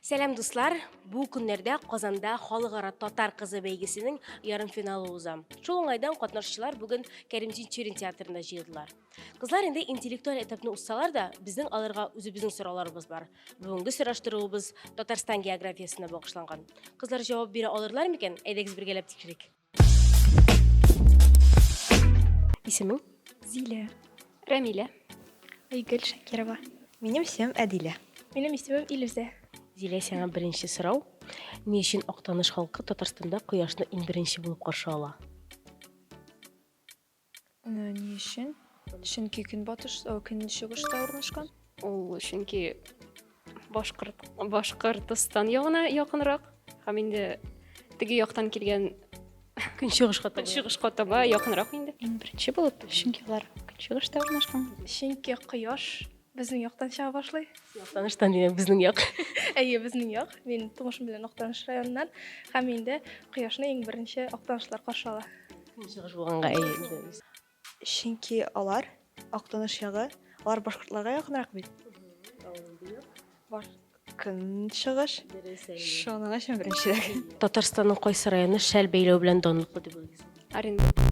Сәлам дуслар! Бу көннәрдә Казанда Халыкара татар кызы бәйгесенең ярымфиналы уза. Шул уңайдан катнашучылар бүген Кәрим Тинчурин театрында җыелдылар. Кызлар инде интеллектуаль этапны узсалар да, безнең аларга үзебезнең сорауларыбыз бар. Бүгенге сораштыруыбыз Татарстан географиясенә багышланган. Кызлар җавап бирә алырлар микән? Әйдәгез бергәләп тикшерик. Исемең? Зилә. Рәмилә. Айгөл Шакирова. Минем исемем Әдилә. Минем исемем Илүзә. Зилә, сиңа беренче сорау. Ни өчен Актаныш халкы Татарстанда кояшны иң беренче булып каршы ала? Ә, ни өчен? Чөнки көнбатыш, о, көнчыгышта урнашкан. Ул чөнки башкорт Башкортстан ягына якынрак һәм инде теге яктан килгән Көнчыгышка таба. көнчыгышка таба якынрак инде. Иң беренче булып, чөнки алар көнчыгышта урнашкан. Чөнки кояш Безнең яктан чыга башлый. Яктаныштан димәк, безнең як. Әйе, безнең як. Мин тумышым белән Актаныш районыннан һәм инде кояшны иң беренче актанышлар каршы ала. Көнчыгыш булганга әйе. Чөнки алар Актаныш ягы, алар башкортларга якынрак бит. Бар көнчыгыш. Шуның өчен беренче. Татарстанның кайсы районы шәл бәйләү белән данлыклы дип уйлыйсыз? Оренбур.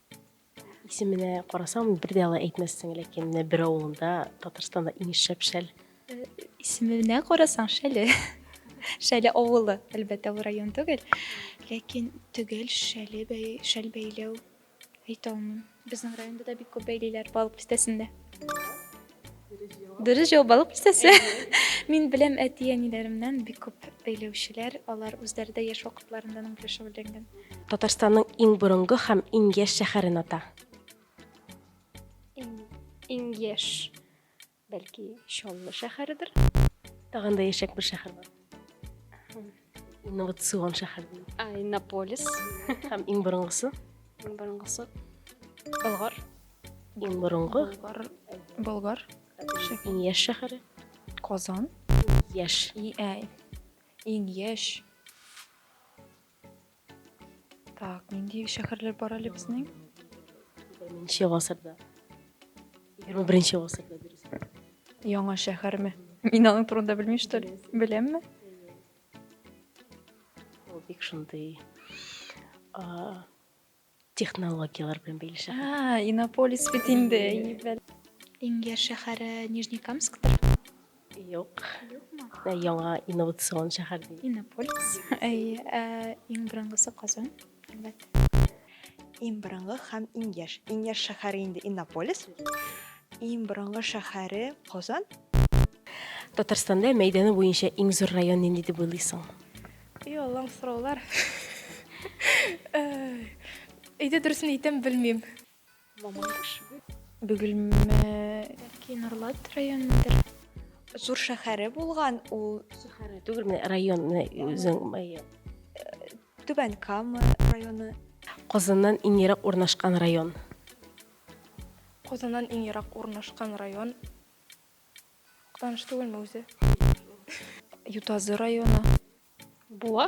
Исеменә карасам, бер дә алай әйтмәссең, ләкин менә бер авылында Татарстанда иң шәп шәл. Исеменә карасаң, шәле. Шәле авылы, әлбәттә, ул район түгел. Ләкин төгәл шәле бәй, шәл бәйләү әйтә алмыйм. Безнең районда да бик күп бәйлиләр балык бистәсендә. Дөрес җавап алып кисәсе. Мин беләм әти әниләремнән бик күп бәйләүчеләр, алар үзләре дә яшь вакытларында аның белән шөгыльләнгән. Татарстанның иң борынгы һәм иң яшь шәһәрен ата. Иң, иң яшь, бәлки, Чаллы шәһәредер. Тагын да яшьрәк бер шәһәр бар. инновацион шәһәр ә иннополис һәм иң борынгысы иң борынгысы болгар иң борынгы болгар иң яшь шәһәре казан яшь иң яшь Так, нинди шәһәрләр бар әле безнең? Беренче гасырда. 21 гасырда дөрес. Яңа шәһәрме? Мин аның турында белмим, что ли? Беләмме? Ул бик шундый а, Технологияләр белән бәйле шәһәр. А, Иннополис бит инде. Иң яшь шәһәре Нижнекамсктыр. Юк. Юкмы? Яңа инновацион шәһәр. Иннополис. Әйе, ә иң борынгысы Казан, әлбәттә. Иң борынгы һәм иң яшь. Иң яшь шәһәре инде Иннополис. Иң борынгы шәһәре Казан. Татарстанда мәйданы буенча иң зур район нинди дип уйлыйсың? И Аллам, сораулар. Әйдә дөресен әйтәм, белмим. Мамадыш. Бөгелмә. Бәлки Норлат районындыр. Зур шәһәре булган ул. Шәһәре түгел, менә район, менә үзең мае. Түбән Кама районы. Казаннан иң ерак урнашкан район. Казаннан иң ерак урнашкан район. Актаныш түгелме үзе? Ютазы районы. Буа?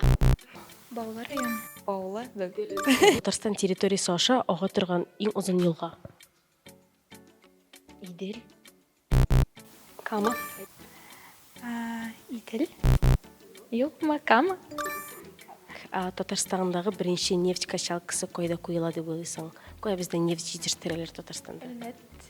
Баулы районы. Баулы? Татарстан территориясе аша ага торган иң озын елга. Идел. Кама. Идел. Юкмы, Кама? Татарстандагы беренче нефть качалкасы кайда куела дип уйлыйсың? Кая бездә нефть җитештерәләр Татарстанда? Әлмәт.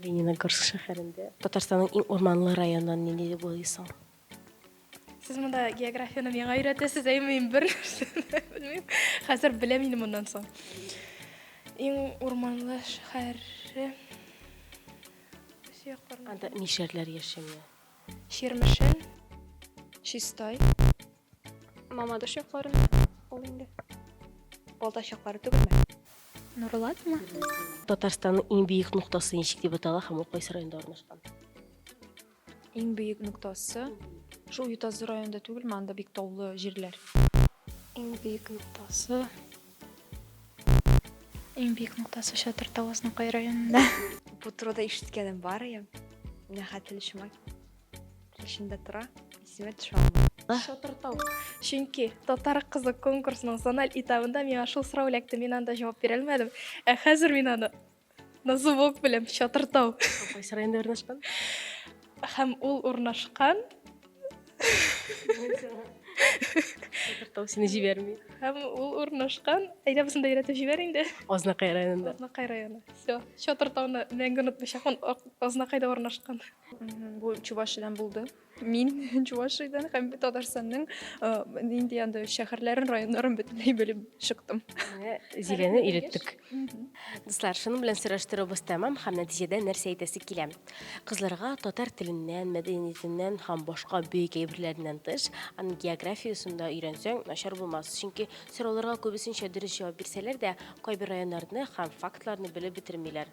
Лениногорск шәһәрендә. Татарстанның иң урманлы районын нинди дип уйлыйсың? Сез монда географияны миңа өйрәтәсез, әйме мин бер нәрсәне белмим. Хәзер беләм инде моннан соң. Иң урманлы шәһәр. Анда мишәрләр яши. Чирмешән. Чистай. Мамадыш якларын ул инде. Балтач яклары түгелме? Нурлатмы? Татарстанның иң бөек ноктасы ничек дип атала һәм ул кайсы районда урнашкан? Иң бөек ноктасы шул Ютазы районында түгелме? Анда бик таулы җирләр. Иң бөек ноктасы. Иң бөек ноктасы Шатыр Тавызныкай районында. Бу турыда ишеткәнем бар ием. Менә хәтле шума. Эчендә тора, исемә төшә алмыйм. Шатыртау. Чөнки татар кызы конкурсының зональ этабында миңа шул сорау эләкте, мин анда җавап бирә алмадым. Ә хәзер мин аны на зубок беләм, чатыртау. Кайсы районда урнашкан? Һәм ул урнашкан. Шатыртау сине җибәрми. Һәм ул урнашкан. Әйдә безне дә өйрәтеп җибәр инде. Азнакай районында. Азнакай районы. Все. Чатыртауны мәңге онытмыйчакмын. Азнакайда урнашкан. Бу Чувашиядән булды. Мин Чувашиядән һәм Татарстанның нинди анда шәһәрләрен, районнарын бөтенләй белеп чыктым. Зиләне өйрәттек. Дуслар, шуның белән сораштыруыбыз тәмам һәм нәтиҗәдә нәрсә әйтәсе килә? Кызларга татар теленнән, мәдәниятеннән һәм башка бөек әйберләреннән тыш, аны география усында өйрәнсәң, начар булмас. Чөнки сорауларга күбесенчә дөрес җавап бирсәләр дә, кайбер районнарны һәм фактларны белеп бетермиләр.